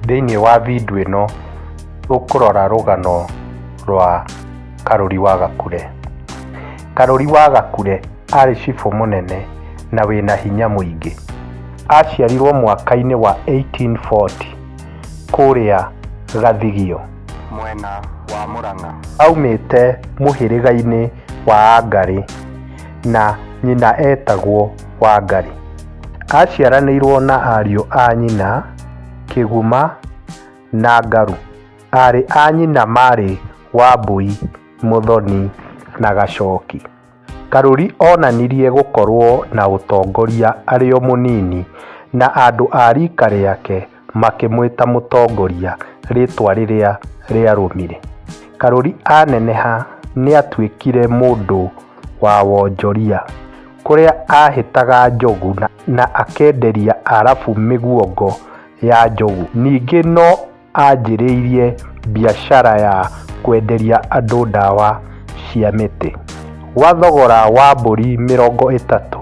Thĩinĩ wa video ĩno tũkũrora rũgano rwa Karũri wa Gakure. Karũri wa Gakure arĩ cibũ mũnene na wĩna hinya mũingĩ. Aciarirwo mwaka-inĩ wa 1840 kũrĩa Gathigio mwena wa Mũrang'a. Aumĩte mũhĩrĩga-inĩ wa Angarĩ na nyina etagwo. Wangari. Aaciaranĩirũo na ariũ a nyina Kĩguma na Ngaru. Aarĩ a nyina maarĩ Wambũi, Mũthoni, na Gacoki. Karuri oonanirie gũkorũo na ũtongoria arĩ o mũnini, na andũ a riika rĩake makĩmwĩta mũtongoria rĩtwa rĩrĩa rĩarũmire. Karuri aneneha nĩatuĩkire mũndũ wa wonjoria kũrĩa ahĩtaga njogu na akenderia Arabu mĩguongo ya njogu. Ningĩ no anjĩrĩirie biacara ya kwenderia andũ ndawa cia mĩtĩ. Gwa thogora wa mbũri mĩrongo ĩtatũ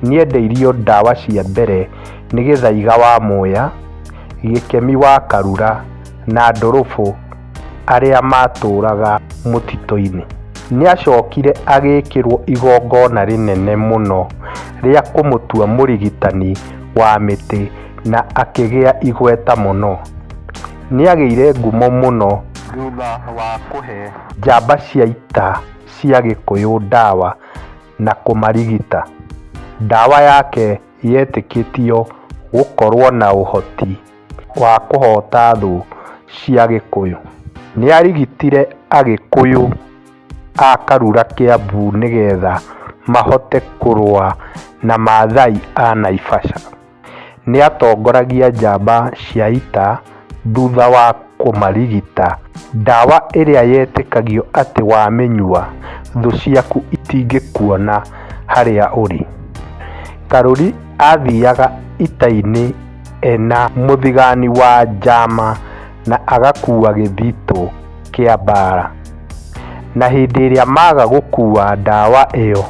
nĩendeirio ndawa cia mbere. nĩ Gĩthaiga wa Mũya, Gĩkemi wa Karura na Ndũrũbũ arĩa maatũũraga mũtitũ-inĩ. Nĩ aacokire agĩkĩrũo igongona rĩnene mũno rĩa kũmũtua mũrigitani wa mĩtĩ na akĩgĩa igweta mũno. Nĩ aagĩire ngumo mũno thutha wa kũhe njamba cia ita cia Gĩkũyũ ndawa na kũmarigita. Ndawa yake yetĩkĩtio gũkorũo na ũhoti wa kũhoota thũ cia Gĩkũyũ. Nĩ aarigitire Agĩkũyũ a Karura Kĩambu nĩgetha mahote kũrũa na Maathai a Naivasha. Nĩ aatongoragia njamba cia ita. thutha wa kũmarigita. Ndawa ĩrĩa yetĩkagio atĩ wamĩnyua thũ ciaku itingĩkuona harĩa ũrĩ. Karuri aathiaga ita-inĩ ena mũthigani wa njama na agakua gĩthitũ kĩa mbaara. Na hĩndĩ ĩrĩa maaga gũkua ndawa ĩyo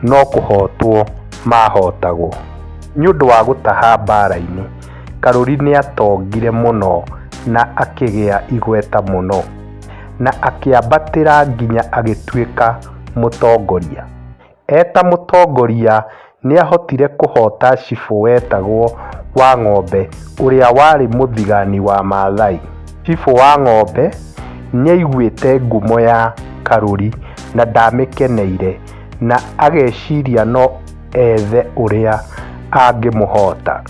no kũhotwo maahotagwo. Nĩ ũndũ wa gũtaha mbaara-inĩ. Karuri nĩ aatongire mũno na akĩgĩa igweta mũno, na akĩambatĩra nginya agĩtuĩka mũtongoria. E ta mũtongoria, nĩ aahotire kũhoota cibũ wetagwo Wang'ombe ũrĩa warĩ mũthigani wa Maathai. Cibũ Wang'ombe nĩ aaiguĩte ngumo ya Karuri na ndaamĩkeneire, na ageciria no. ethe ũrĩa angĩmũhoota.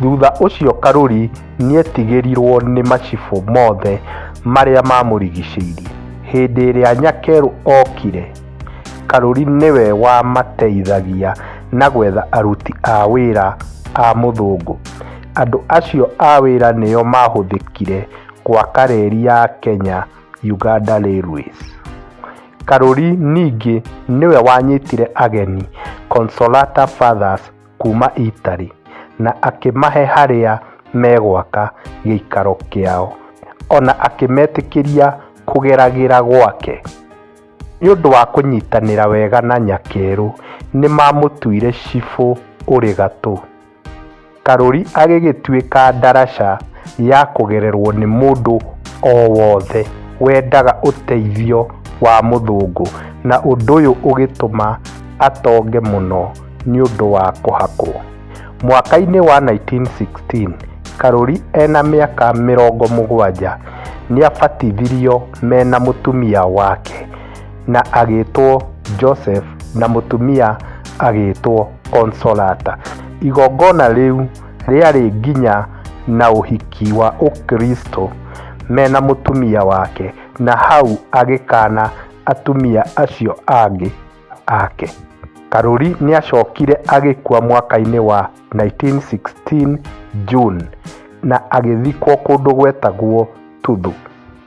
Thutha ũcio Karuri nĩetigĩrirwo nĩ macibũ mothe marĩa mamũrigicĩirie. Hĩndĩ ĩrĩa Nyakeru okire, Karuri nĩwe wamateithagia na gwetha aruti a wĩra a mũthũngũ. Andũ acio a wĩra nĩo mahũthĩkire gwaka reri ya Kenya-Uganda Railways. Karuri ningĩ nĩwe wanyitire ageni Consolata Fathers kuuma Italy na akĩmahe harĩa megwaka gĩikaro kĩao, o na akĩmetĩkĩria kũgeragĩra gwake. Nĩ ũndũ wa kũnyitanĩra wega na Nyakeru, nĩ maamũtuire cibũ ũrĩ gatũ. Karũri agĩgĩtuĩka ndaraca ya kũgererwo nĩ mũndũ o wothe wendaga ũteithio wa mũthũngũ na ũndũ ũyũ ũgĩtũma atonge mũno nĩ ũndũ wa kũhakwo. Mwaka-inĩ wa 1916, Karũri ena mĩaka mĩrongo mũgwanja nĩabatithirio mena mũtumia wake. na agĩĩtwo Joseph na mũtumia agĩĩtwo Consolata. Igongona rĩu rĩarĩ nginya na ũhiki wa Ũkristo mena mũtumia wake na hau agĩkana atumia acio angĩ ake. Karuri nĩacokire agĩkua mwaka-inĩ wa 1916 June na agĩthikwo kũndũ gwetagwo Tuthu.